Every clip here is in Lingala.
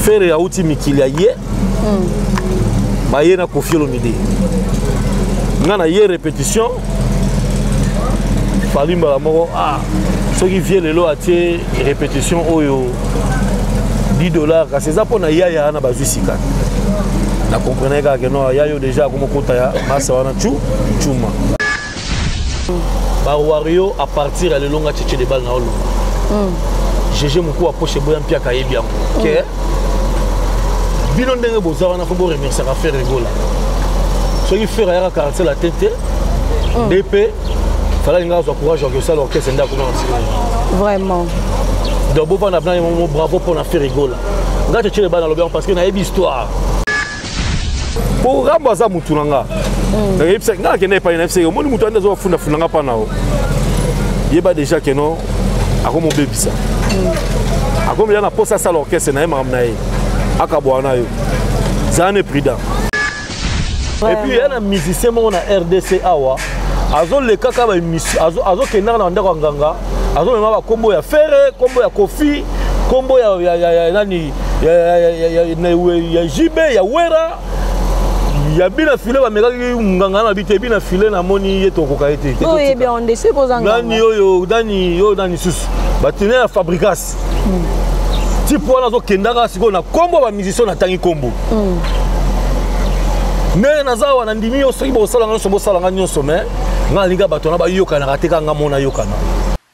fere auti mikili ya ye mm. baye na kofi olomide nga na ye répétition fali mbala moko ah, soki vie lelo atie répétition oyo 10 dollars kasi eza mpo na yaya wana bazwi sika na comprenaki kaka ke no yaya oyo déjà akomokota ya masa wana cu cuma ba wario à partir ya lelo nga cheche de bal na oloba mm. jeje mokua poshe boya mpiaka ayebi yango mm. ke bino ndenge boza wana fo boremerciaka fere egola soki fere ayaka quartier la tete mm. dp falaki nga azwa courage ya kosala orchestre nde akoma vraiment donc bovanda bna ye bravo mpo na fere egola nga cheche de bal nalobi yango parce que nayebi histoire po rambo aza mutu na nga mm. nakeyebisaki nga nakenda epai na fseke omoni mutu andi azoka fundafunda nga mpa na yo yeba déjà ke non akomobebisa mm. akomela na mposa asala orchestre na ye makambo na ye akabwana na yo zala ne prudent epuis ya na musicien moko na rdc awa azolekaka azokendaka na ndako ya nganga azomema bakombo ya fere kombo ya kofi kombo ya nani ya, ya, ya, ya, ya, ya jb ya wera ya bina file bamekaki nganga na bite bina file namoni ye tokoka ye te nani oyo nani oyo nani susu batine ya fabricas hmm. tipe wana azokendaka sikoyo na nkombo ya bamusicien natangi nkombo hmm. ndenge naza awa nandimi yo soki bosala nyonso bosala nga nyonso mai nga nalinga bato wana bayokanaka te kaka nga mona yokana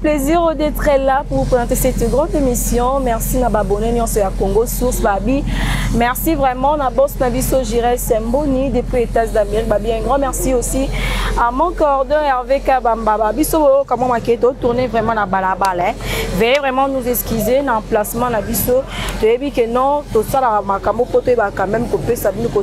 plaisir d'être là pour vous présenter cette grande émission. Merci na babonné nyonso ya Congo Source Babi. Merci vraiment na boss na biso Jirel Semboni depuis États d'Amérique Babi. Un grand merci aussi à mon coordonnateur Hervé Kabamba Babi. So comment maketo tourner vraiment na balabala. Hein. Veuillez vraiment nous excuser na emplacement na biso. Toyebi que non, tout ça la makambo poto ba quand même ko pesa bino ko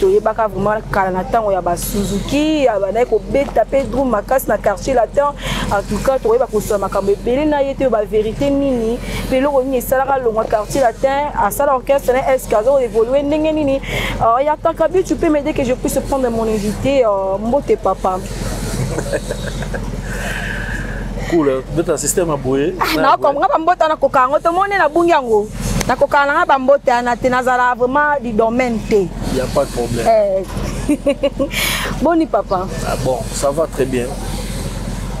toyebaka vraiment kala na ntango ya basuzuki abandaki kobeta mpe drum makasi na quartier latin en tout cas tokoyeba kosola makambo ebele na ye te baverité nini mpe eloko nini esalaka longwa quartier latin asala orchestre na eske azo évolue ndenge nini euh, ya kakabi tu peux m'aider que je puisse prendre mon invité euh, mbote papa cool beta système aboye na comprendre bambota na koka yango tomoni na bungi yango nakokana nanga bambote yana te nazala vraiment du domaine te y a pas de problème eh. boni papa ah bon ça va très bien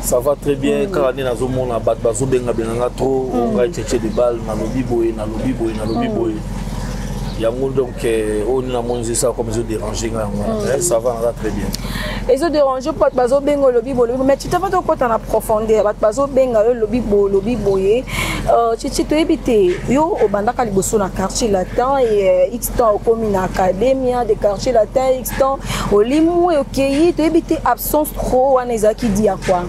ça va très bien mm. kaka nde nazomona bato bazobengabenga nga trop mm. ongai cheche de balle nalobi boye nalobi boye nalobi mm. boye yango donc oyo nde namonisi esa comme ezoderange nga yango wana ça va naza très bien ezo dérange mpo bato bazobenga olobi bolobi mais tito fati okota na profondeur bato bazobenga yo olobi bolobi boye titi euh, toyebi te yo obandaka liboso na quartier latin e x temps okomi na academia de quartier latin x temps olimu okei toyebi te absence trop wana ezalaki di ya kua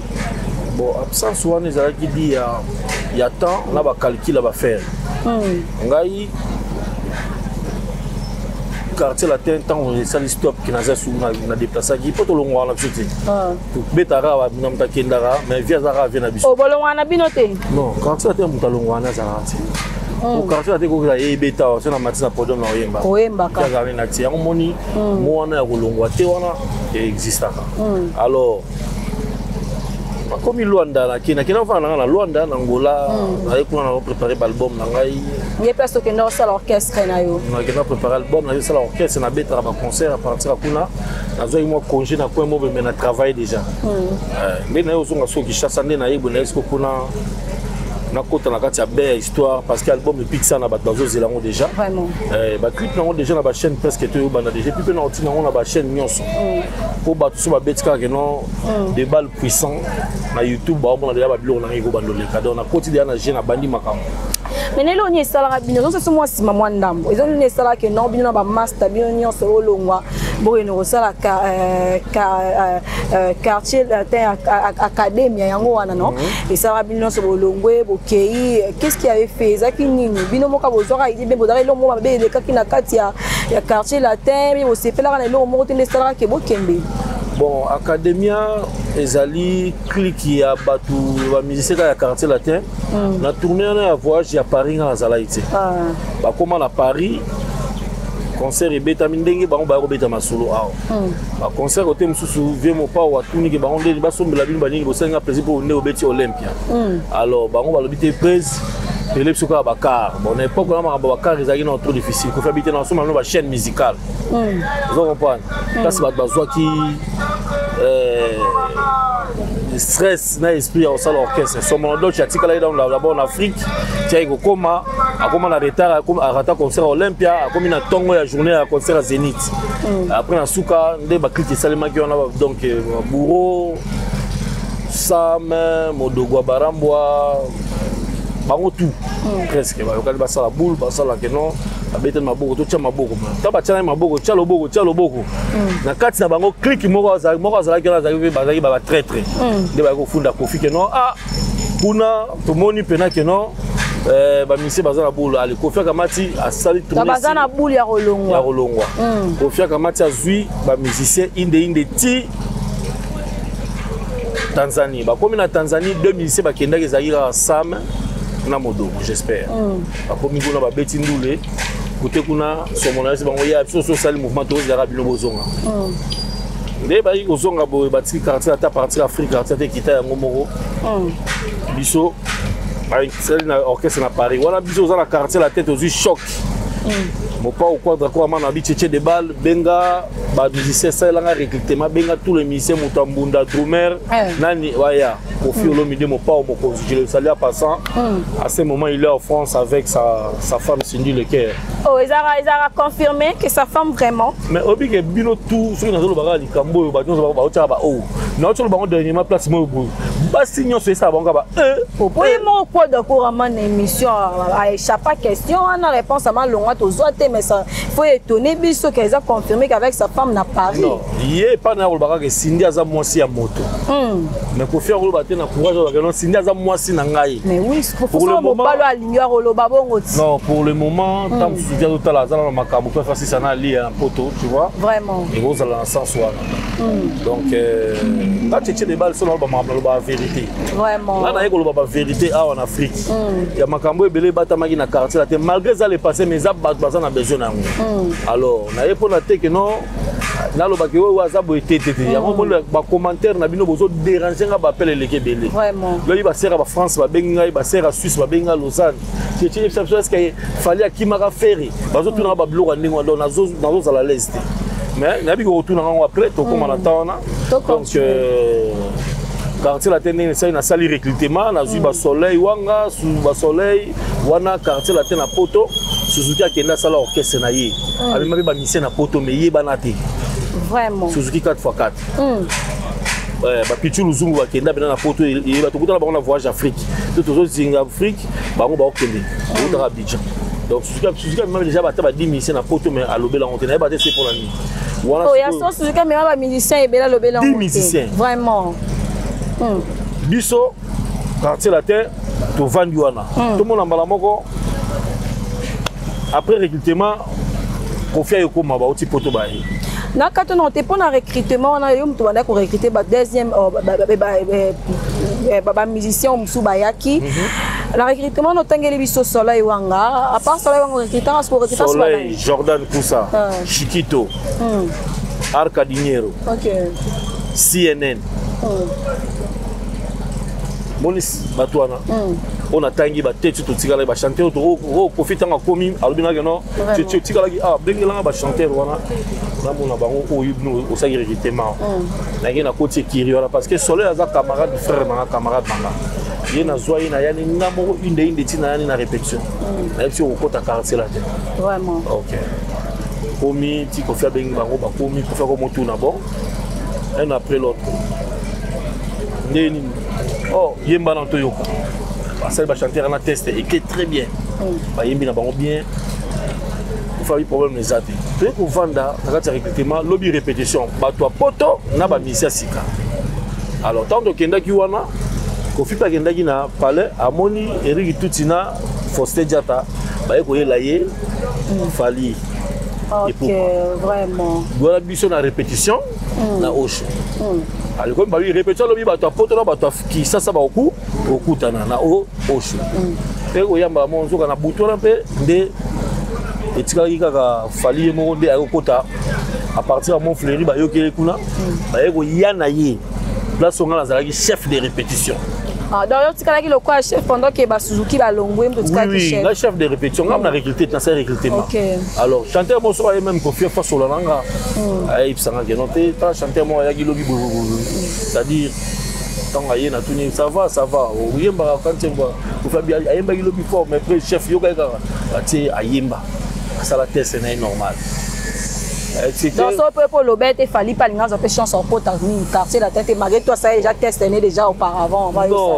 bon absence wana ezalaki di ya, ya temps na bacalcule ya bafere hmm. ngai quartier latin ntango esali stop ke naza suku na deplasaki mpo tolongwaka na biso te ah. tobetaka awa na moto akendaka mais vie azaka avie na biso obolongwaka oh, na bino te non quartier latin moto alongwaka na azalaka te hmm. quartier latin kokela ye ebeta wa so na mati na podium na oyemba oyembakaazali na ti yango moni hmm. mo wana ya kolongwa te wana existaka hmm. alors nakomi luanda nakenda nakenda ofanda na ngai na luanda na ngola naye kuna na prépare baalbum na ngai ye place okenda osala orchestre na yo nakenda prépare album nayo esala orchestre nabetaka baconcert apartir kuna nazwaki mwa congé na coin mobe mai na travaille déjà hmm. nde naye ozonga soki kishasa nde nayebwe naye siko kuna nakota na kati ya bea histoire parce que album epikisa na bato bazozela yango déjà eh, baclip nango déjà na bachaîne presque toyobanda déjà epuis mpe na otina yango na bachaîne nyonso mpo hmm. bato so babeti kaka keno hmm. debal puissant na youtube baomona deja babiloko na ngai ekobanda oleka donc nakoti deja na jeu nabandi makambo mais nelo ni esalaka bino nyonso so mwa nsima mwa ndambo eza nini esalaka ke non bino na bamasta bino nyonso olongwa bokende kosala euh, euh, euh, quartier latin academia yango wana non mhm. esalaka bino nyonso bolongwe bokei qu'est ce qui avait fait ezalaki nini bino moka bozwaka idi mpe bozalaka eloko moko mabe elekaki na kati ya quartier latin mpe bosepelaka na eloko moko te nde esalaka ke bokende bon academia ezali clike ya bato bamusicien kaka ya quartier latin mm. na tourne wana ya voyage ya paris nga nazalaki te ah. bakóma na paris concert ebetami ndenge bango baya kobeta masolo awa mm. baconcert kote mosusu vie mopao atuniki bango ndeni basombela bino banini bosali nga plaisir mpo nde obeti olympia mm. alors bango balobi te prise elebisi kaka bacar bon na époque wana makambo bacar ezalaki na trop difficile kofi abite na basomba bino bachaîne musicale hmm. ozo comprendre hmm. place bato bazwaki euh, stress na esprit ya kosala orchestre somono doc atikalaki donc d'abord na afrique tiaki kokoma akoma na retard arata concert olympia akomi na ntongo ya journée ya concert ya zénith hmm. après na suka nde baclike esalemaki wana donc euh, bouro sam modogwa barambwa bango tout presque bayokani basala boule basalake non abetani maboko totya maboko ntango batyalani maboko tya loboko tya loboko mm. na kati na bango klike moko azalaki wana azalaki bazalaki batraitre mm. nde bayaki kofunda kofi ke non ah kuna tomoni mpena ke non eh, bamisie baza na bulu ale kofi akamati asali baza na bulu ya kolongwa ya kolongwa mm. kofi akamati azwi bamusicien inde inde ti tanzanie bakomi na tanzanie deux musicien bakendaki ezalaki kaka sam na modogo j'espère bakomi kuna babeti ndule kote kuna somo na yasi bango ya biso so osali mouvement tozalaka bino bozonga hmm. nde bayaki kozonga boye batiki quartier ata partir afrique quartier ata ekita yango moko hmm. biso basali na orchestre na paris wana biso oza na quartier la tete ozwi choc hmm. mopao quadra ko amana bi cheche de balle benga bamusicien salelanga recrutement benga tout le musicien moto ya mbunda drumer eh. nani waya Kofi hmm. Olomide Mopao Mokonzi, je le salue à passant. Mm. À ce moment, il est en France avec sa, sa femme Cindy Lecaire. Oh, ils ont, ils ont confirmé que sa femme vraiment. Mais obi que bino tout, ceux qui n'ont pas likambo, yo ba nyonso ba ba ba ba oh. Na otolo bango dernièrement place moi boy. Ba si nyonso esa bango ba eh. Oui, eh. mon quoi de couramment émission a échappé question, on a réponse à ma longue to zoate mais ça faut étonner biso qu'ils ont confirmé qu'avec sa femme na Paris. Non, yé pas na olbaka que Cindy aza moi si à moto. Mm. mais kofi akoloba te na courage azalaka non sindi aza mwasi na ngai mobalo alingi akoloba bongo ti non pour le moment ntango hmm. mosusu ti azotala aza na makambo mpe afasisa na alia na poto tu vois vraiment ekozala na sens wana hmm. donc euh, nga cheche de bale solo aloba makambo naloba vérité nga naye koloba bavérité awa na afrique hmm. ya makambo ebele ebatamaki na quartier la te malgré eza le passé mais eza bato baza na besoin na yango alors naye mpo na teke non nalobaki oyo aza boye te te te mm. yango omoni bacommentaire na bino bozo dérange nga bapele eleki ebele lobi basere ya bafrance babengi ngai basere ya suisse babengi ngai lausanne ceceyebisa biso eske fali akimaka fere bazotunaka mm. babiloko ya ndenge wana donc nazozala lese te mais nayebi kokotuna ngango après tokóma na mm. temps wana donc euh, quartier latin ndenge esali nasali recrutement nazwi basoleil wanga basoleil wana quartier latin na poto suzuki akenda asala orchestre na ye mm. amema mpe bamisien na poto me yebana te vraiment suzuki 4x4 mm. Eh, bapichu luzungu bakenda mpena na poto eyeba tokutana bango na voyage afrique to tozozinga afrique bango baokende okutaka abidjan donc suzuki amema deja bata ba 10 musicien na poto mais alobela yango te nayeba te se mpona nini oya so suzuki amema bamusicien ebela alobela yango te vraiment hmm. biso quartier latin tovandi wana hmm. tomona mbala moko après recrutement kofi aye ekoma bauti poto baye na kati na te mpo na recrutement wana yo moto bandaki korecrute ba deuxième oh, bamusicien mosusu bayaki mhm. na recrutement notangeli biso soleil wanga apart soleil wanga recrutanga soko recrutsoleil jordan kusa ah. chikito hmm. arcadiniero cnn hmm. moni bato wana hmm. oyo natangi bateti totikalaki bachanteur oyo oh, oh, oh, kofi ntango akomi alobi nake no otikalaki awa ah, bengelanga bachanteur wana namona bango oyo bino osalaki recrutement hmm. nake nakoti ekiri wana parce que soleil aza camarade frère nanga camarade nanga ye nazwa ye nayani nga moko inde inde ntina yani na répétition hmm. nayebi si okokota quartier la te ok komi ti kofi abengi bango bakomi kofi akomotuna bon un après l'autre ndenge nini oh. yemba na toyoka basali bachanteur na teste eke très bien mm. bayembi na bango bien fami problème eza te toye kovanda na kati ya recrutement lobi répétition bato ya poto na bamisi ya sika alors ntango tokendaki wana kofi mpe akendaki na palais amoni eriki tuti na foste diata baye koyela ye mm. fali okay, epuka wana biso na répétition mm. na osho mm. alikomi babi repetition alobi bato ya poto na bato ya kisasa bakoku okutana na osho mm. mpe oyambaka mo nzoka na butu wana mpe nde etikaki kaka fali ye moko nde ayokota à partir ya mont fleuri bayoki ye kuna baye koya na ye place onga nazalaki chef de répétition Ah, donc otikalaki lokola chef pendant ke basuzuki balongwe moto otikalaki chef nga chef de répétition nga mna recruté nasali recrutement alors chanteur moko soki aye meme kofia fasola na nga hmm. ayebisanga ke non te ta chanteur moko ayaki lobi bobobobo c'est-à-dire ntango aye natuni ça va ça va oyembaka kantiengwa kofabi ayembaki lobi fort mais après chef yokaki kaka atie ayemba asala test na ye normal nyonso mpe mpo oloba ete fali mpe alingi azwa mpe chance akota nini quartier latin te malgré toi asala déjà test ne déjà auparavant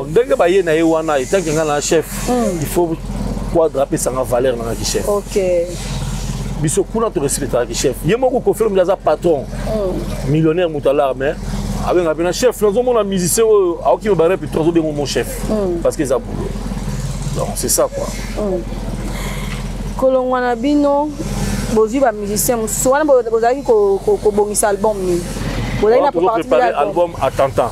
ndenge baye na ye wana etanke ngai na chef hmm. il faut quadre apesanga valeur nanga ki chef okay. biso kuna torespectaka ki chef ye moko kofi olomide aza patron hmm. millionnaire moto alar mais abenga mpena chef nazomona musicien oyo aoki me barep to azobenga mon chef hmm. parce que eza boulot donc c'est ça quoi hmm. kolongwa na bino bozwi bamusicien mosusu wana bozalaki kobongisa album nini bozalaki na préparé album attentant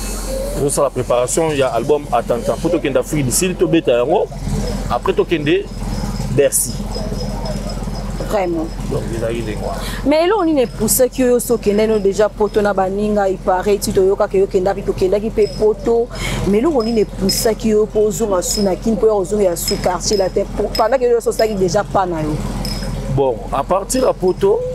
tozosala préparation ya album attentant mpo tokende afrique du sud tobeta yango après tokende bercy vraiment donc ezalaki ndenge wana mais eloko nini epusaki yo sokende no déjà poto na baninga ipare ti toyokaka yokendaki tokendaki mpe poto mais eloko nini epusaki yo mpo ozonga su na kini mpo ya kozonga ya su quartier latin pendant ke yo sosalaki déjà pa na yo bon à partir ya poto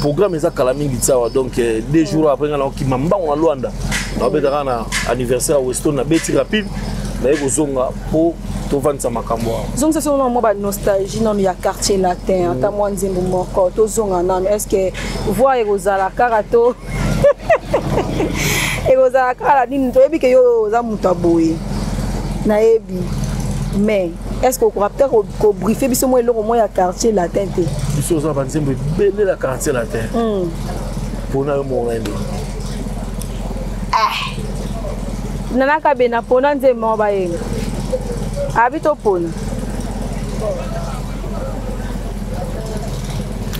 programme eza kala mingi tsawa donc euh, deux jours après nga nakokima mbango na luanda nabetaka na anniversaire ya weston nabeti rapide naye kozonga mpo tovandisa makambo awa zongisa soko mwa banostalgie nano ya quartier latin mm. ata mwa nzembo moko tozonga nano est ce que voi ekozala kaka to ekozala kaka na nini toyebi ke yo oza moto ya boye nayebi mais est ce que okoka peut être kobriefe biso mwa eloko mwa ya quartier latin te biso oza banzembo ebele na quartier latin mpona hmm. yo moko nayembe eh. nanaka be na pona nzembo moko bayemba abi topona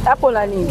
apona nini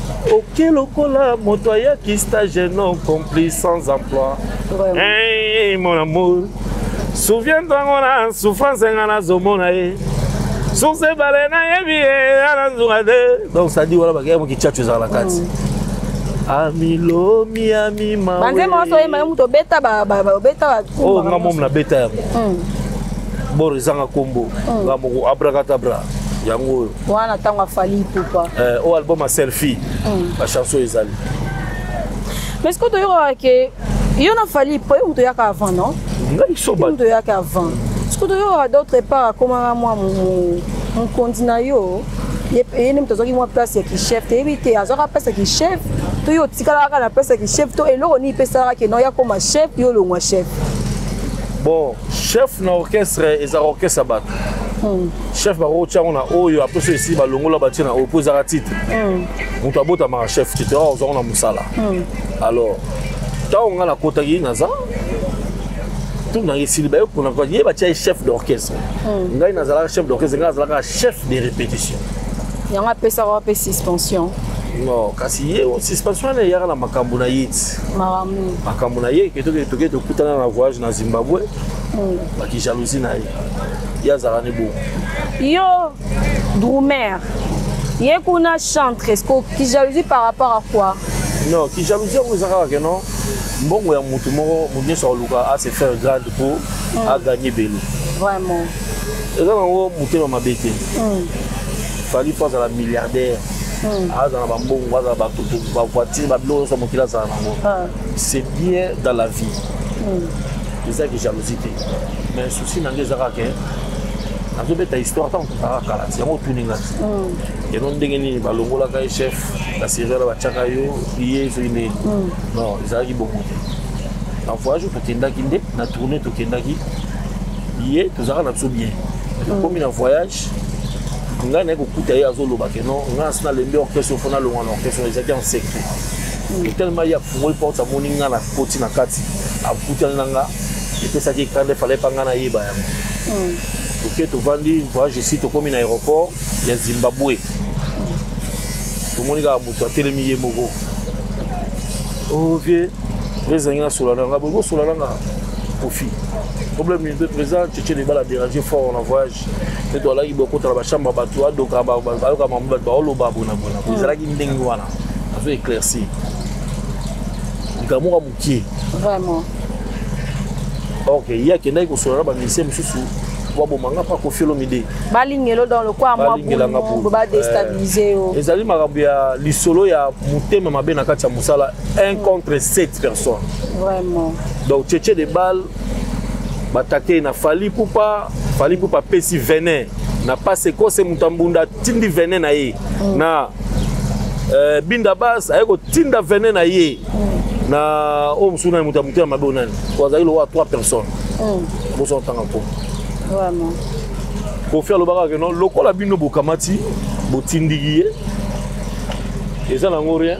oke lokola moto ayaki stage non compris sans emploi hey, mon amour souviens ntango na souffrance nga nazomona ye source ebale nayebi ye anazunga te donc sadi wana bakei mokichacho ezala na kati mm. amilomi amimabanzemba nyonso oyemba yo moto obeta obeta oyo oh, nga momo nabeta yango mm. boro ezanga nkombo mm. nga moko abrakatabra yango oyo wana ntango afali ipupa eh, oyo album ya selfie mm. bachanson ezali mais sikoyo toyokaka ke yo na fali ipo ye moto oyaka avant non moto oyaka avant sikoyo toyokaka d'autre part akomaka mwa mokonzi na yo ye nde moto azwaki mwa place ya kichef toyebi te azwaka place ya kichef to yo otikalaka na place ya kichef to eloko nini epesalaka ke non yakoma chef yo olongwa chef bon chef na orchestre ezaka orchestre ya bato hmm. chef bakoki tia yango na oyo apres oyo esili balongola batie na oyo mpo ezaka titre hmm. moto abotamaka chef te te oyo ozango na mosala hmm. alors ntango ngai nakotaki naza tout na esili baye kuna kwa ye batia ye chef d'orchestre hmm. ngai nazalaka chef d'orchestre ngai nazalaka chef de répétition yango apesaka wape suspension non kasi ye suspension wana eyaka na makambo na ye ti makambo na ye ke toke tokutana na voyage na zimbabwe bakijalousie na ye ye azalaka ne bongo yo drumer ye kuna chantre esko kijalousie par rapport à quoi non kijalousie yango eza kaka keno mbongo ya motu moko motu nyonso akoluka a se faire grande mpo mm. agagne ebele vraiment eza nango motema mabe te mm. fali mpo azala milliardaire mm. azala bambongo azala bavoitire babilo nyonso mokili azala nango ah. c'est bien dans la vie eza ki jalousie te mais souci na ngai eza kaka ke nazobeta histoire ntango tozalaka kala ti yango otuni ngai yano mm. ndenge nini balongolaka ye chef na seriala batyaka yo ye soki nini mm. non ezalaki bongo te na voyage tokendaki nde na tourne tokendaki ye tozalaka na biso bien tokomi na voyage ngai naye kokuta ye azoloba ke non ngai asi nalembi orchestre ofo nalongwa na orchestre ezalaki en secret mm. tellement ye afungoli porte amoni ngai na koti na kati akutani na ngai epesaki kanda efale epa ngai nayeba yango hmm. toke tovandi voyage esi tokómi na aéroport ya zimbabwe tomoni kaka moto atelemi ye moko oh, vie ezangi nasola na ngai bolingi osola na ngai kofi problème nini mpe président tchetche libala adérange fort na voyage mpe toalaki bokota na bachambre ya bato adoka ayoka mambo bato baoloba bonabona ezalaki ndenge wana azo éclaircir likambo ki vraiment ok ye akendaki kosolola na bamusicien mosusu baboma nga mpa kofi olomide balingelo dans lokwa mwabobo badestabilise eh, yo ezali makambo ya lisolo ya motema mabe na kati ya mosala 1 contre 7 personnes vraiment donc cheche de balle batakei na fali pupa fali pupa apesi venin na pase kose moto ya mbunda atindi venin na ye mm. na euh, binda bas aye kotinda venin na ye na oyo mosusu nani moto ya motema mabe oyo nani oyo azali lokola trois personnes hmm. boso otanga mpo kofi alobaka keno lokola bino bokamati botindiki ye eza nango rien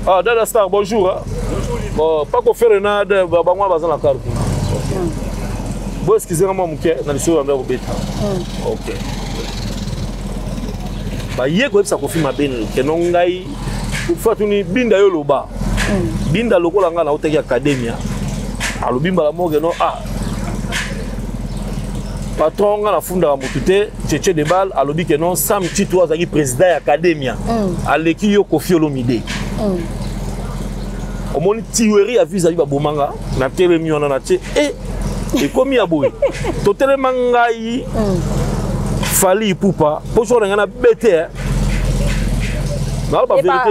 ah dada star bonjour hein? bon, pas kofere na bango baza na karte hmm. bo eskize nga mwa moke na lisolo yambe ya kobeta hmm. ok baye koyebisa kofi mabe keno ngai fatuni binda yo loba hmm. binda lokola ngai nautaki akademia alobi mbala moke no ah patron nga nafundaka motu te cheche de bal alobi ke non sam tito azalaki président ya academia hmm. aleki yo kofi olomide hmm. omoni tiweri ya vise abi babomanga natelemi wana na tie e ekomi ya boye totelema ngai mm. fali ipupa mpo soko na ngai na bete eh. naloba verité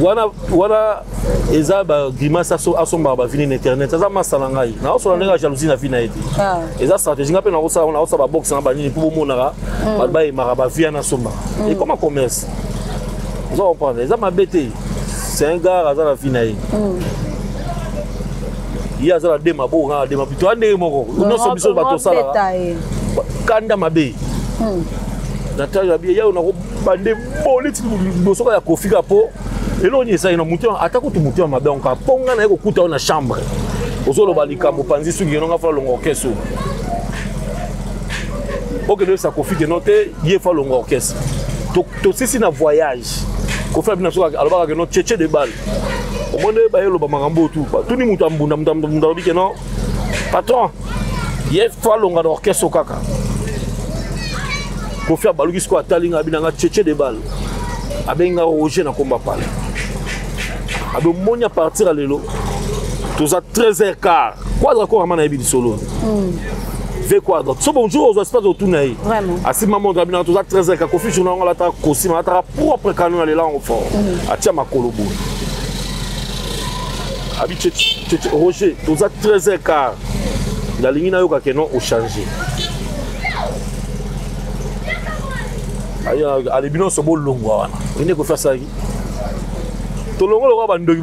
wana wana eza bagrimace asombaka bavini na internet aza masa na ngai naosala ndenge ya jalousie na vi na ye te ah. eza stratégie ngai mpe naosala naosala baboxe na banini mpo bomonaka mm. bato bayemaka bavia nasombaka mm. ekoma commerce oza comprendre eza mabe te c'est un gars aza na vie na ye hmm. ye aza na dema bo na dema bito ndenge moko nyonso biso bato osalaka kanda mabe hmm. natali na biye yayo nakobande boliti liboso ka ya kofika mpo eloko nini ezali na moto ata kutu moto ya mabe onka mpo ngai naye kokuta yo na chambre ozoloba likambo panzi suki yeno ngai falonga orkestre okende oyebisa kofike no te ye falonga orkestre tosisi na voyage kofi abina so alobaka ke no cheche de balle omoni nde baye eloba makambo tu batuni moto ambunda moto ambunda alobi ke no patron ye fo alonga na orchestre kaka kofi abaluki sikoyo atali nga abina nga cheche de balle abengi nga roger na komba pale abe omoni apartir ya lelo toza 13 heures quart kwadra kora ma nayebi lisolo hmm. ve quoi donc so bonjour ozwa espace otuna ye asimba montre abina toza 13 heures kakofi journa yango alataka kosima alataka propre canon alela yango fort mm. atia makolo boye abi roger toza 13 heures car nalingi nayoka ke non ochange alebi nyonso bolongwa wana oyinde kofi asalaki tolongo lokola bandoki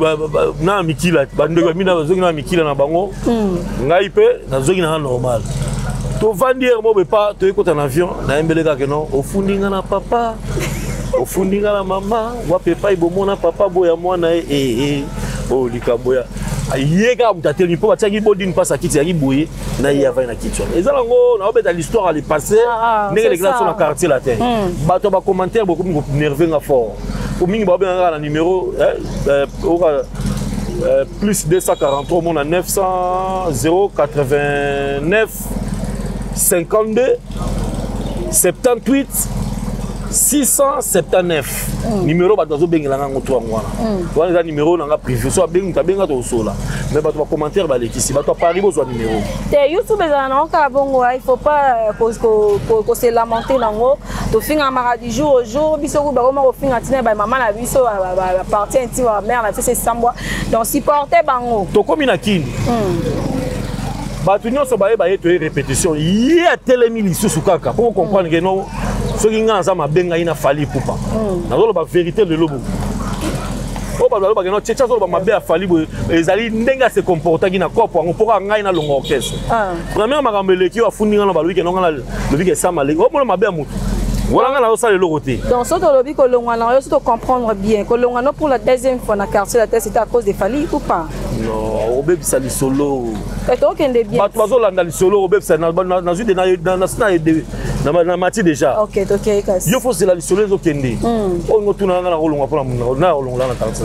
na mikila bandoki bamina bazongi na mikila na bango hmm. ngai mpe nazongi na nga normal tovandi yere mobe pa toyei kota na avion nayembele kaka no ofundi nga na papa ofundi nga na mama wapi epai bomona papa boya mwana ye ee eh, eh, eh. oyo oh, likambo ya ye kaka moto atelemi mpo batiaki bodini mpasi akiti yaki boye na ye avandi na kiti wana eza nango naobeta l'histoire le passé ah, ah, ndenge elekela so na quartier latin hmm. bato ya bacommentaire bokomi konerve nga fort po mingi baobenga kaka na numero eh, eh, oka eh, plus 243 omona 900 089 52 78 679 mm. numero bato bazobengela ngango to yango wana mm. wana eza numero na nga privé so abengi moto abenga tokosola mais bato bacommentaire balekisi bato ya paris bozwa numero te youtube ezala nango kaka bongo il faut pas euh, kose lamenter nango tofingamaka du jour au jour biso kuba koma kofinga ntina ba mama na biso baparti inti ba mare na biso esambwa donc supporte bango tokomi na kini mm. bato nyonso bayeba ye toye répétition ye atelemi lisusu kaka po comprendre ke no soki ngai naza mabe ngai na fali pupa hmm. nazoloba vérité lelo bo oyo bato balobaka no cheche azoloba mabe ya fali boye ezali ndenge ase comportaki na cope yango mpo kaka ngai nalonga orchestre ah. première makambo eleki oyo afundi ngai na balobi ke no ngai nalobi ke sama leki omona mabe ya motu wana ngai nazosala eloko te donc soki tolobi kolongwa na yo soki tocomprendre bien kolongwa no pour la deuxième fois na quartier la test ete à cause de fali ou pas non obebisa lisolo tokende bien bato bazolanda lisolo obebisa nazwi de nasi na mati déjà yo fosela lisolo ezokende hmm. oyo ngotuna nga nakolongwa mpona nakolongola na taxi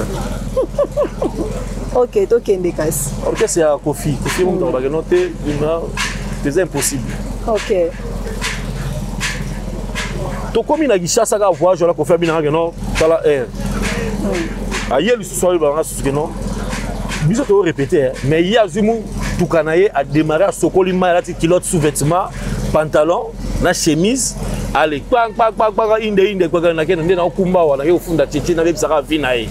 ok tokende kasi orchestre ya kofi kofi moto alobaka no te ina eza impossible ok tokomi na kishasa kaka voyage wana kofi abinaka no tala aire hmm. aye so ayebaka nga susu keno biso toyo répété hein. mais ye azwi motuka na ye adémarre asokoli mai alati kilote sous vêtement pantalon na chemise ale kpakpakpakpaka inde inde kpaka nakende nde naokumba wana ye ofunda tete nabebisaka vi na ye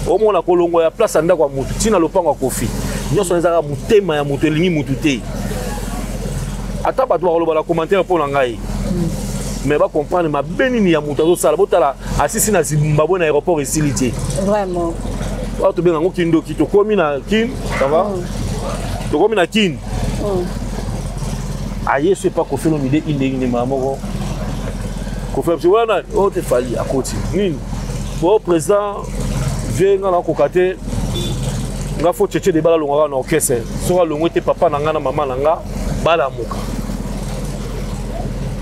omona kolongo ya place ya ndako ya motu ntina lopango ya kofi nyonso ezalaka motema ya moto elingi motu te ata bato bakoloba na commentaire mpo na ngai mais bacomprendre mabe nini ya moto azosala botala asisi na zimbabwe na aéroport esili te vraiment oyo tobenga yango kindoki tokomi na kin sava mm. tokomi na kin mm. aye so epa kofi olomide indenge nde maa moko kofi apesi wana oyo te fali akoti nini po président vie nga nakoka te nga fo cheche de bala longaka na orchestre soki alongwe te papa na nga na mama na nga balamuka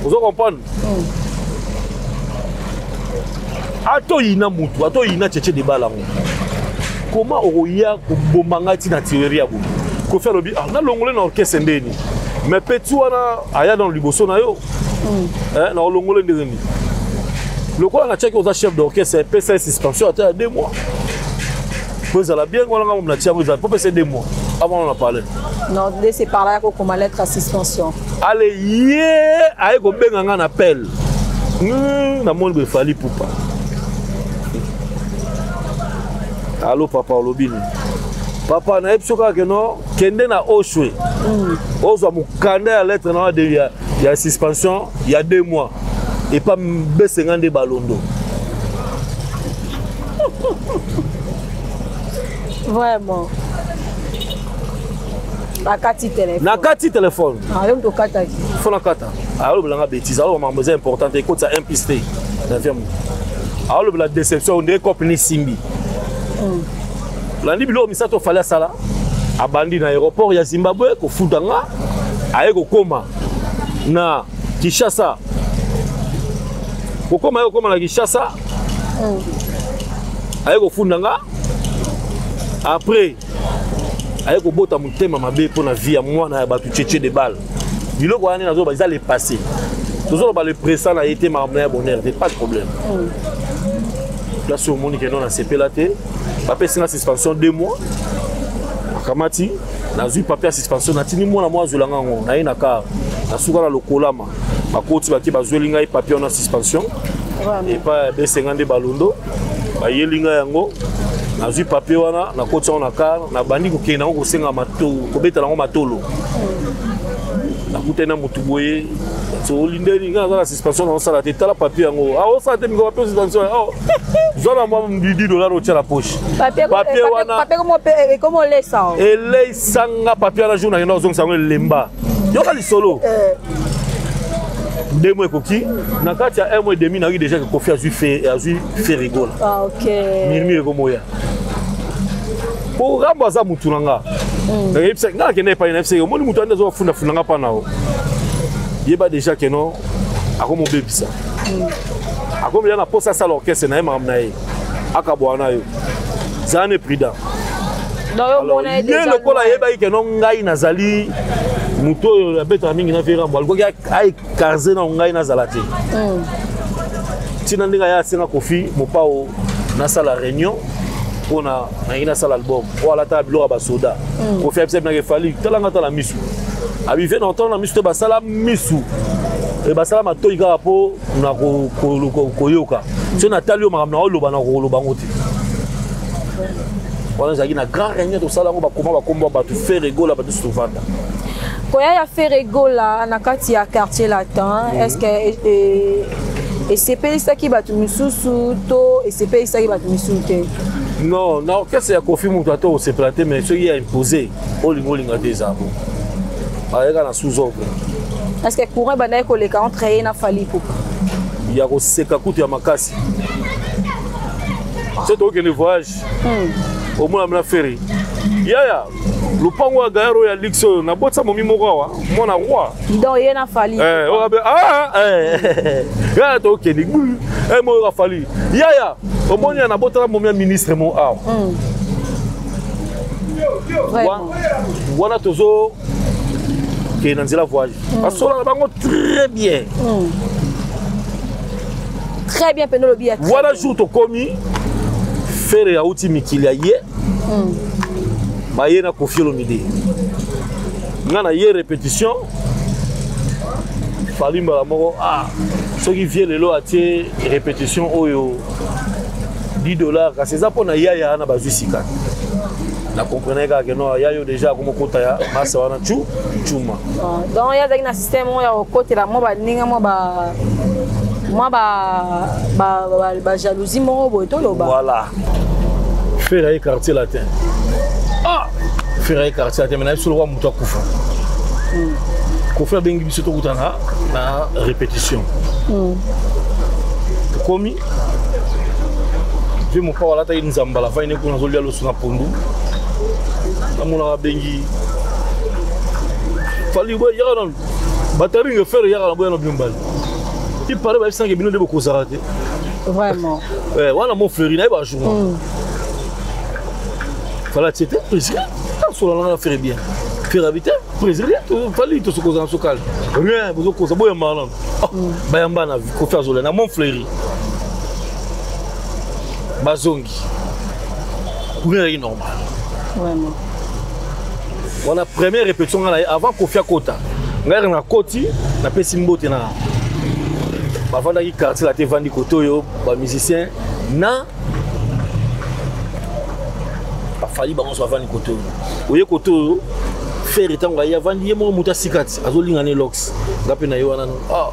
ozo comprendre atoyina motu atoyina cheche debala yango koma okoya koboma ngai ntina tireri ya boye kofi alobi ah, nalongole na orkestre ndeni me peti wana aya nano liboso na yo mm. eh, na olongole ndenge nini lokola natiaki oza chef d'orchestre epesa ye suspension ata ya deux mois po ezala bien wana ngambo na tiango ezala po pesa ye deux mois avant on a parle non de se parla ya kokoma lettre ya suspension ale ye aye kobenga nga na pele hmm, namoni boye fali pupa alo papa olobi nini papa nayebi so kaka keno kende na oswe hmm. ozwa mokanda ya lettre na ya, ya suspension ya deux mois epa besenga nde balondo vraiment akati telefone nakati telefone ah, yo moto okataki fo nakata alobela nga bétise aloba makambo eza important te ekotisa impiste te na vie moto alobela déception nde cope nisimbi hmm. landi biloko misato ofali asala abandi na aéroport ya zimbabwe kofuta nga aye kokoma na kinshasa kokoma ye kokoma na kinshasa hmm. aye kofunda nga après aye kobota motema mabe mpo na vie ya mwana ya bato cheche de balle biloko wana nde nazoloba eza le passé tozoloba le présent na ye te makambo na ya bonheur te pas de problème place oyo omoni keno nasepela te bapesi nga suspension deux mois akamati nazwi papier ya suspension natindi mwana mwa azwelanga yango naye na kar nasuka na lokolama bakoti bake bazweli ngai papier wana suspension epai ya besenga nde balondo bayeli ngai yango nazwi papier wana nakoti yango na kar nabandi kokende yango kosenga kobetala yango matolo nakutani na motu boye olindeli ngai aza na suspension na osala te tala papier yango aosala ah, te miko papier suspension oh, zwa na mwa midi dolar otya na poche papier wana eleisanga papier wana jour nakenda ozongisa yango elemba yoka lisolo eh. deux mois ekoki na kati ya un mois et demi nayoki déjà ke kofi azwi fe azwi fe rigole ah, mirmire ekomoya po rambo aza mutu na nga hmm. nayebisa nga nakenda epai na yebisa omoni mutu ande azofundafunda nga mpa na yo yeba déjà ke no akomobebisa hmm. akomela na mposa asala orchestre na ye makambo na ye akabwana yo zala ne prudent ye lokola ayebaki keno ngai nazali moto oyo abetaka mingi na verambo alikoki aekarze na ngai nazala te mm. ntina ndenge aya asenga kofi mopao nasala réunion mpona nalingi nasala album oyo alataka biloko ya basoda mm. kofi abisa binaka efali talanga tala misu abive na ntango na misu te basala misu eh, basala matoi kaka mpo na koyoka soki natali yo makambo na oloba na kokoloba yango te wana ezalaki na grand réunion tosala yango bakoma bakombo ya bato fere gola bato nyonso tovanda koya ya fere gola na kati ya quartier latin mhm. est ce que e, e, esepelisaki bato mosusu to esepelisaki bato mosusu te non na orchestre ya kofi moto ata osepela te mais soki ya impose olinga olinga te eza bo ayeka na sous ordre parce que courant ebandaki koleka entre ye na fali pupa ya koseka kutu ya makasi so tokokende voyage hmm. omonami na ferry yaya lopango ya gayar oyo ya lix oyo nabotisa momi moko awa mwana roi donc ye na fali eh, okabe oh, ah, ah, eh. yaya tokende gbu eh, moyoka fali yaya omoni ya nabotala momi ya ministre mo awa hmm. wana tozo ke na nzela voyage mm. basolaka bango très bien mm. très bien mpe nolobi ya wana jour tokomi fere auti mikili ya ye mm. baye na kofi olomide nga na ye répétition fali mbala moko ah soki vie lelo atie répétition oyo 10 dollars kasi eza mpona yaya wana bazwi sika na comprenais kaka ke no ya yo déjà akomi okota ya masa wana cu cuma ah, donc ye azalaki na système oyo ya kokotela mwa baninge mwa ba mwa bajalousie moko boye toloba voilà fera ye quartier latin ah fera ye quartier latin me nayebi soloka to akufa kofi abengi biso tokutana na répétition hmm. tokomi mpe mopao alataki nzambala fai ne kuna azolia loso na pondu namonaka abengi fali boye yaka nanu bataringe fere yaka na boya na bino mbali ipare bayebisanake bino nde bokozala te vraiment eh, wana mo feri naye bajour hmm. fala tiete prisque solo na faire bien faire habiter président to fali to sokoza na sokal rien bozo koza boya marlon ah, mm. bayamba na ko faire zola na mon fleury bazongi courrier est normal vraiment wana première répétition ngana avant kofia kota ngai na koti napesi mbote na bavandaki quartier la te vandi koto yo ba musicien na bafali bango nyonso bavandi koto oyo oye koto oyo fere ntango aye avandi ye moko moto asikati azolinga ne lox nga mpe na ye wana ah.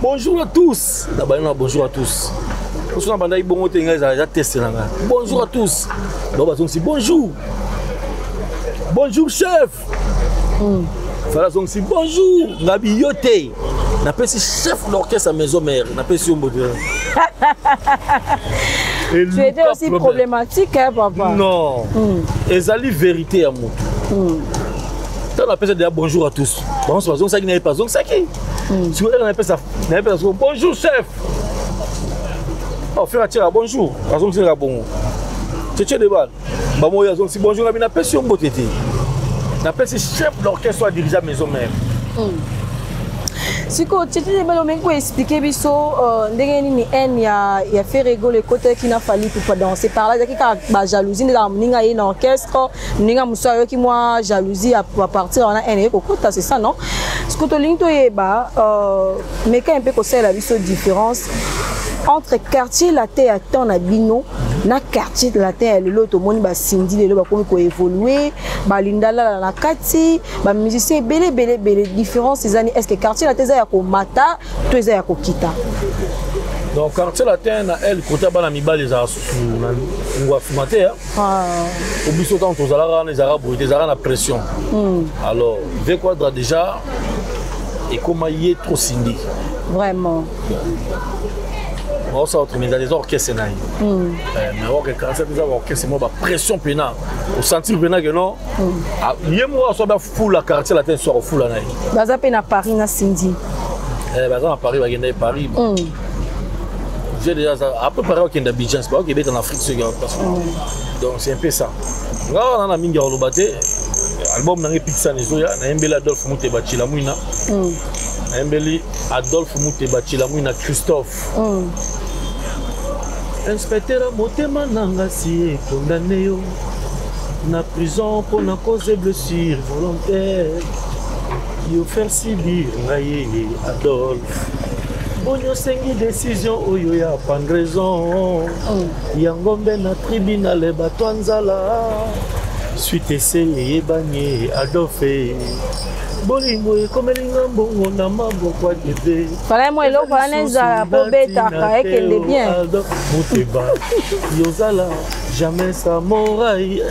bonjour à tous na bani na bonjour à tous mosu na bandaki bongo te ngai eza teste na ngai bonjour à tous bango bazongisi bonjour bonjour chef mm. fala azongisi bonjour ngabi yo te napesi chef d'orchestre ya maison mère napesi yo mbote tu étais aussi problème. problématique hein, papa non mm. ezali vérité ya motu mm. ntango napesa deja bonjour à tous bango so bazongisaki nayepe azongisaki hmm. sikoyo ere napesa nayepesa siko bonjour chef ofere oh, atyaka bonjour azongisaka bongo cece de bale bango oyo azongisi bonjour na bino napesi yo mbote te napesi chef d'orchestre oyo adirigea maison mère hmm. sikoyo tete belo olingi koexplike biso euh, ndenge nini haine ya, ya feregolo ekotaki na fali pupa danse par là ezalaki kaka bajalousie nde kaka moninga ye na orchestre moninga mosusu ayoki mwa jalousie ya partir wana haine eye kokota c'est ça non sikoyo tolingi toyeba euh, meka mpe kosalela biso différence entre quartier latin ya temps na bino na quartier latin ya lelo tomoni basindi lelo bakomi koévolue balindalala na kati bamusicien ebele ebele ebele différence eza ni est ce que quartier latin eza ya komata to eza ya kokita donc quartier latin na el kota bana mibali ezalaka susu na ngwa nsima te po ah. biso ntango tozalaka wana ezalaka boye te ezalaka na pression hmm. alors ve quadra déjà ekoma ye trop sindi vraiment baosala otremeza eza orchestre na ye hmm. eh, mais oke 47 eza baorchestre moko bapression mpena osentir mpena ke non hmm. ah, ye moko aso bafula quartier latin soir ofula na ye baza mpe na paris na sindi eh, baza na paris bakenda ye paris hmm. j'ai déjà après paris okenda bijans baokebeta na afrique soki donc c'est un peu ça nga wana na mingi ya koloba te album na ngai pikisana ezoya nayembeli adolphe muteba cilamwina mm. nayembeli adolphe muteba cilamwina christophe mm. inspecteur motema na nga si ekondane yo na prison mpo na cause blessure volontaire yo faire subir ngai adolphe boni osengi décision oyo ya pandraison mm. ya ngombe na tribunale bato ya nzala suite ese eyebani adolfe bolingo ekomeli nga mbongo na maboko ya debe vraiment eloko wana ezala mpo betaka ekende bien moteba yozala jamais sa morai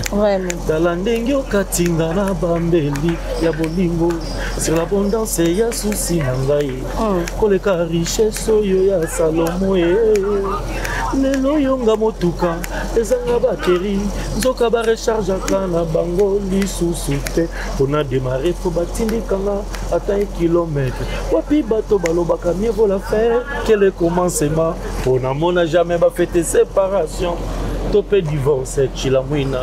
tala ndenge okatinga na bambeli ya bolingo sur l'abondance ya susi na ngai Ah, koleka richesse oyo ya salomo e lelo oyo nga motuka ezanga bateri nzoka barechargeaka na bango lisusu te mpona demare mpo batindikanga ata e kilometre wapi bato balobaka mivola faire kele commencement mpo namona jamais bafete séparation to mpe divorce cilamwina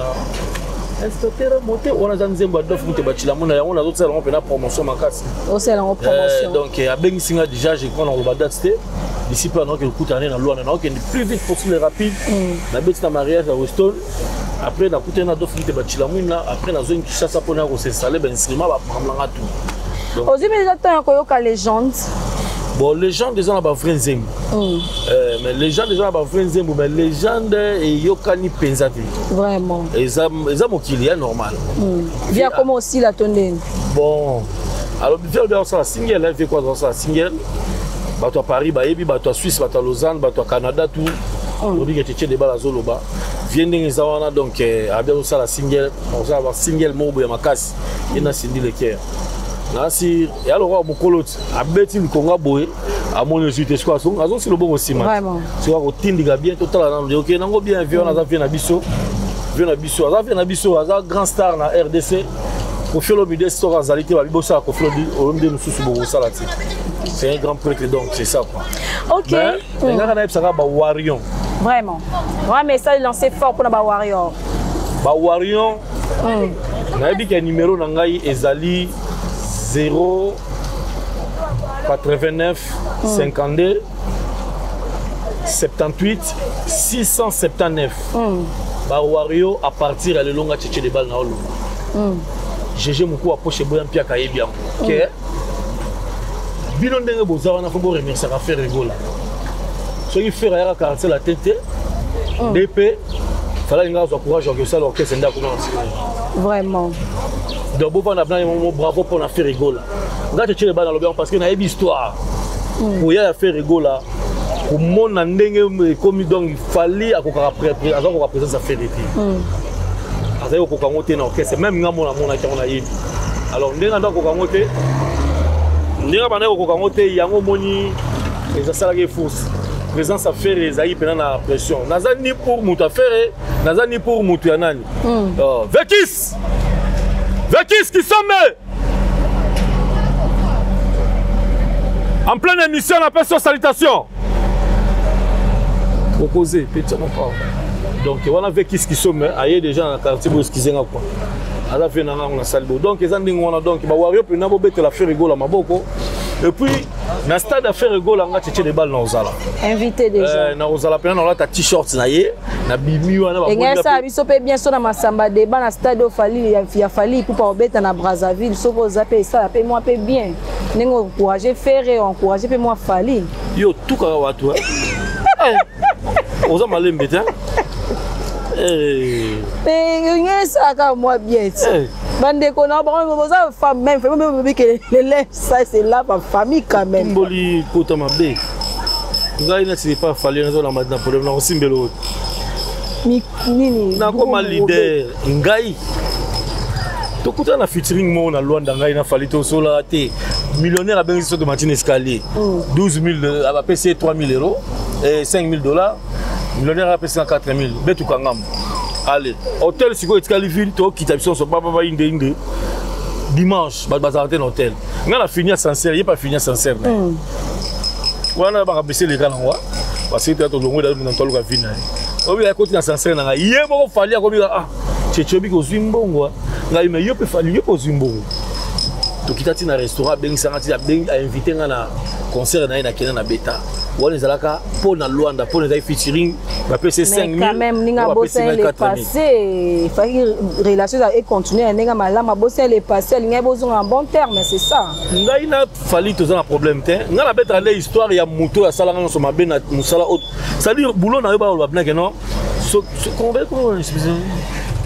inspecteur mote wana aza nzembo ya dof mote bacilamwina yango nazotisalango mpena promotion makasi osala yango eh, promotion donc eh, abengisi nga déjà je crois nakoloba date te bisi mpe anaki kokutana na lwana nakokende plus vite possible rapide mm. nabeti na mariage ya weston après nakutani na dofili te bacilamwina après nazongi kishasa mpo naya kosinstale bainstrument bapakamlanga tout ozwi mpe eza temps ya koyoka legende bon legende eza na bavrai nzembo mm. euh, mais legende eza na bavrai nzembo mais legende eyokani mpenza te vraiment eza mokili ya normal mm. viakoma osila to ndeni bon alors bife obi azosala single life eko azosala single bato ya paris bayebi bato ya suisse bato ya lausanne bato ya canada tout hmm. obike tete debala azoloba vie ndenge eza wana donc eh, abi azosala single azosala basingle moko boya makasi ye na sindi leker nasi ya lokola mokolo ti abeti likonga boye amoni ozwi te sikoyo azongi azongi si loboko nsima sikoyo akotindika bien totala nano de oke nango bien vie wana aza vie na biso vie na biso aza vie na biso aza grand star na rdc kofi olomide soki azali te babi bosala kofi olomide mosusu bokosala te c'est un grand prêtre donc c'est ça quoi ok mais engaka nayebisaka bawarion vraiment wa message lancé fort mpona bawarior bawarion hmm. nayebi ke numero na ngai ezali 0 89 52 78 679 mm. bawario à partir ya lelonga cheche de bal na oloba mm. gege mokuu aposhe eboya mpe akayebi yango mm. ke bino ndenge boza wana fo boremerciaka fere egola soki fere ayaka quartier latin te mm. nde mpe falaki ngai azwa courage ya kosala orchestre nde akoma na nsima vraiment donc bovanda bina mo bravo mpo na fere egola ngai tetiele bana lobi yango parce que nayebi histoire koya ya fere egola komona ndenge ekomi donc fali akokaka aza koka présence ya fede te hmm. azali kokoka yango te na orchestre meme nga mona amonaki yango nayebi alors ndenge anda kokoka yango te ndenge abandaki kokoka yango te yango omoni ezasalaki eforce présence ya fere ezalaki mpena na pression naza ni pour moto ya fere naza ni pour moto ya nani hmm. oh, vekis vekis kisombe en pleine émission na peso salutation proposer petit na pas donc wana ve kiski somme aye déjà na quartier bo excusez nga quoi aza vie na ngango na sali bo donc eza ndenge wana donc ba wario pena bo betela frère gola maboko et puis na stade ya frère gola nga tchetche de balle na ozala invité déjà euh, na ozala pena na olata t-shirt na ye na bimi wana ba ngaya sa biso pe bien so na masamba débat na stade ofali ya, ya fali pour pas obeta na Brazzaville so ko zape ça pe moi pe bien ndenge encourager ferre encourager pe moi fali yo tout ka watu hein eh, oza malembe te eh eh ngaya sa ka moi bien eh. bandeko na bango boza femme même femme bobikele lele Ça c'est là ma famille quand même. Mboli kota mabe. Ngai na tili pas fallu nazo la madame problème na kosimbela oyo. Ni nini? Na koma leader ngai. Tokutana na featuring moko na Luanda ngai na Fally tosola te. Millionnaire abengisi soki matine escalier. 12 mm. 000 abapesi ye 3 000 euros et eh, 5 000 dollars. Millionnaire apesi na 4 000 betu kangamu. Allez, hôtel sikoyo etikali ville tokita biso nyonso baba bainde inde dimanche bato bazalaka te na hotel ngai na fini ascenseur ye mpe afini ascenseur na hmm. wana makambo esi eleka nango basili te tolongwe da na toluka vi na ye obi akoti na ascenseur na ngai ye moko fali akobika ah cheche obiki ozwi mbongo ah. ngai me yo mpe fali yo mpe ozwi mbongo tokita ti na restaurant abengisanga ti ainvite ngai na concert na ye nakenda na beta wana ezalaka mpo na lwanda mpo na ezali featuring bapesi 5 000 se efaki relation ezala econtinue na ndenge malamu abosani le passé alingaki bozonga na bon terme c'est ça ngai na fali toza na problème te ngai nabetaka nde histoire ya moto oyo asalaka nyonso mabe na mosala oyo c'est-à-dire boulot na yo baoloba binake non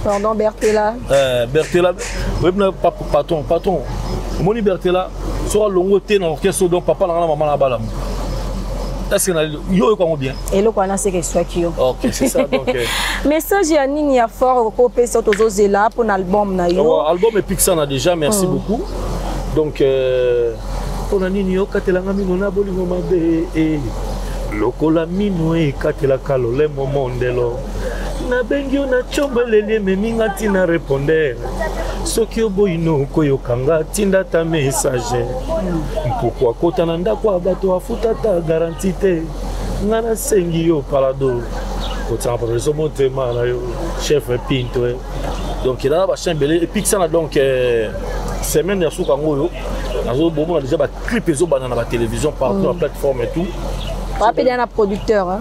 pardon bertela euh, bertela oyebi na patron patron omoni bertela soki alongo te na orchestre donc papa na nga na mama na balamu est-ce que yo oyoka yango bien eloko wana seke eswaki yo ok c'est ça donc euh. message ya nini ya fort okoki opesa tozozela mpo na album na yo oh, album epikisana déjà merci mm. beaucoup donc euh, mpo na nini okatelanga mino na bolingo mabe eh. lokola mino ekatelaka lolemo mondelo nabengi yo na combo eleli ememi nga ntina repondere soki oboyi nokoyoka nga tinda ta message mpuku akota na ndako ya bato afuta ta garanti te nga nasengi yo palado kotiaka profeso motema na yo chef pinto eh. donc elala bachin ebele epikisana donc eh, semaine ya suka yango oyo nazobomona déjà baclip ezobanda na batelevizio partout na mm. plateforme et tout wapedana producteur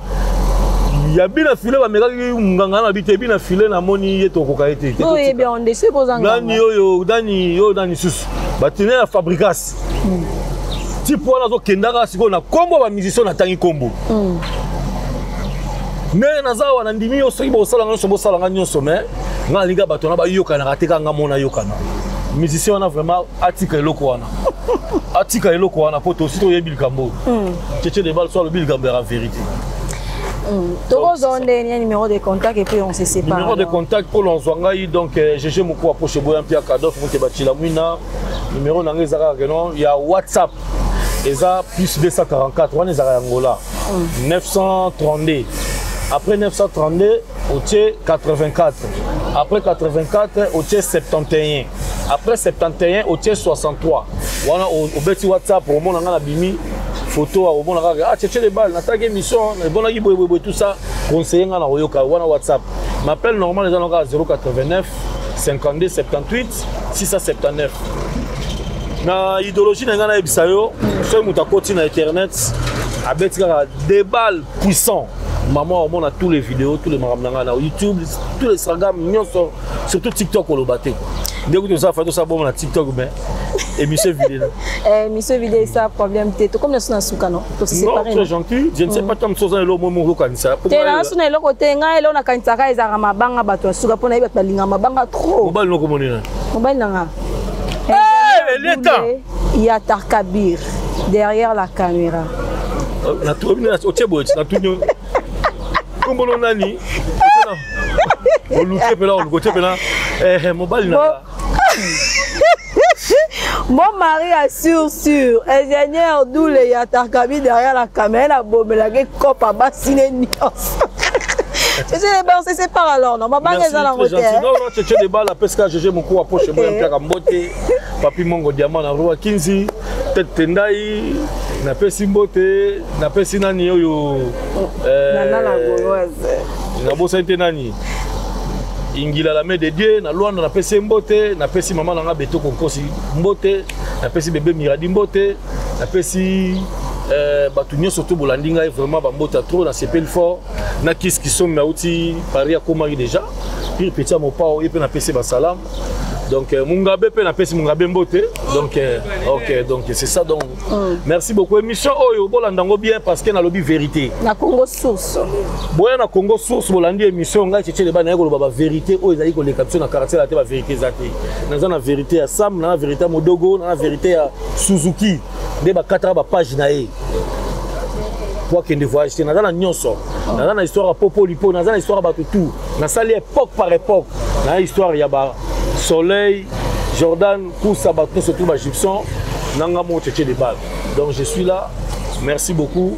ya bina file bamekaki nganga na bite bina file namoni ye tokoka ye te nani oyo nani oyo nani susu batine ya fabrigas hmm. tipe wana azokendaka sikoyo na nkombo ya bamusicien natangi nkombo hmm. me naza awa na ndimi yo soki bosala nyonso bosala nga nyonso me nga nalinga bato wana bayokanaka te kaka nga mona yokana musicien wana vraiment atika eloko wana atika eloko wana mpo tosi toyebi likambo oyo cece hmm. debal so alobi likambo ya verité hmm. tokozwa nde nia numéro de contact epuis on se sépare numéro de contact mpo lonzwa ngai donc gg euh, mokua poche boya mpe ya kadof mote bacila mwina numéro na ngai eza kaka keno ya whatsapp eza plus 244 wana ezalaka yangola 932 hmm. après 932 otie 84 après 84 otie 71 après 71 otie 63 wana obeti whatsapp omona ngai na bimi foto ya komona kaka ah cheche le bal nataki émission ebonaki boyeboyeboye tout ça conseille ngai na koyoka wana whatsapp m'appel normal eza na kaka 089 52 78 679 na idéologie na ngai nayebisa yo soki moto akoti na internet abeti kaka debal puissant maman omona tous les vidéos tous les makambo na ngai na youtube tous les instagram nyonso surtout tiktok oloba te ndenge kutu oza fa tosala bongo na tiktok mais émission vide eh, émission vide esa problème te tokomi na so na suka no toseparé gentil je ne sais mm. pas tant mosusu oza na eloko moi moko okanisa te na so na eloko te ngai eloko nakanisaka ezalaka mabanga bato ya suka mpo na ye bato balinga mabanga trop mobali nokomonina mobali na nga eh, eleta ya tarkabir derrière la caméra otie boye natuni kombolo nani oluke mpena oluke otie mpena eh, mobali na mon mari a sur sur ingénieur doule ya tarkabi derrière la caméra nabomelaki kopa basi ne nyonso Cece les balles, c'est sépare alors. Non, ma banque est dans la route. Merci, très gentil. Non, non, Cece les balles, la pesca, Gégé, mon coup, approche, moi, un peu à Kambote. Papi Mongo Diamant na Rua Kinzi, Tete Tendai, na pesi mbote, na pesi nani oyo euh, Nana la Gauloise. Na bosani te nani ingila la de dieu na luanda napesi mbote napesi mama na nga betoko nkosi mbote napesi bebe miradi mbote napesi eh, bato nyonso to bolandi ngai vraiment bambota trop nasepeli fort na kisi kisomi auti paris akomaki déjà pire petit ya mopao ye mpe napesi basalamu donc euh, mungabe mpe napesi mungabe mbote donc euh, ok donc c'est ça donc mm. merci beaucoup émission oyo bolanda yango bien parce que nalobi vérité na congo source boya na congo source bolandi émission ngai cece leba naye koloba bavérité oyo ezali koleka biso na quartier la te bavérité eza te naza na vérité ya sam na na vérité ya modogo na na vérité ya suzuki nde bakataka bapage na ye po akende voyage te naza na nyonso ah. naza na histoire ya popolipo naza na histoire ya bato tout nasali époque par époque na histoire ya ba soleil jordan kusa bato nyonso tout bagipson nanga moko cheche de base donc je suis là merci beaucoup